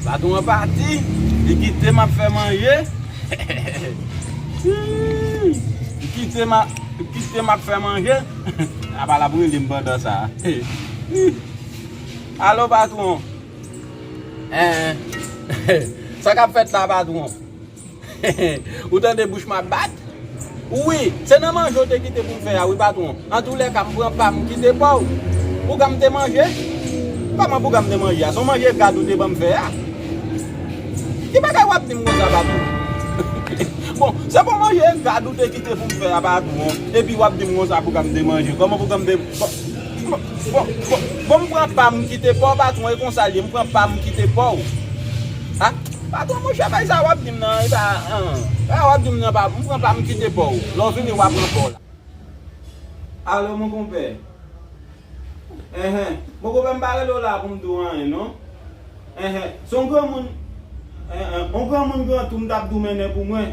Baton an pati, li kite m ap fè manje, li kite m ap fè manje, apa l ap rele m pandan sa a, alo patron, sa k ap fèt la patron, Ou tande bouch m ap bat? Wi, se nan manje w te kite pou m fè a wi patwon. Antoulèka, m pran pa m, m kite pa w. Bouga m te manje? Kòman bouga m te manje a? Se yon manje gad ou te ban m fè a? Ki bagay w ap di m konsa patwon? Bon, se pou manje gad ou te kite pou m fè a patwon, epi w ap di m konsa bouga m te manje? Kòman bouga m te Bon, m pran pa m, m kite pa w patwon, e konsa l ye. M pran pa m, m kite pa w. Ha patron monchè bay sa wap dim nan epa an sa wap dim nan pa mpran pam mkite paw lè w vini wa pran paw la. Alo mon konpè enhen mon konpè mpa rele w la pou m di w anyen non enhen se yon granmoun enhen yon granmoun gran tou m tap di w mennen pou mwen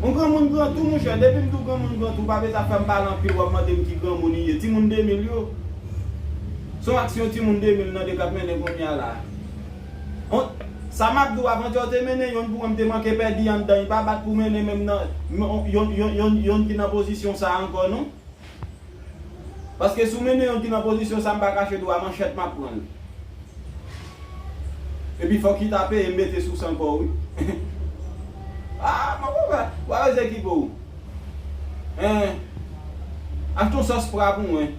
yon granmoun gran tou monchè depi m di w granmoun gran tou pa bezwen fè m pale anpil wap mande m ki granmoun li ye timoun 2000 yo. Son aksyon timoun 2000 nan 2 kap mennen kounya la. Hon. Sa map di w avantè w te mennen yonn pou mwen m te manke pèdi anndan li pa bat pou mennen menm nan yon yon yon yonn ki nan pozisyon sa ankò non. Paske si w mennen yonn ki nan pozisyon sa m pa kache di w a manchèt map pran l. Epi fòk li ta peye m mete sou san kò w wi. Aa mwen konprann. Wa wè ze ki po w. Eeh. Achte yon sòs fra pou mwen.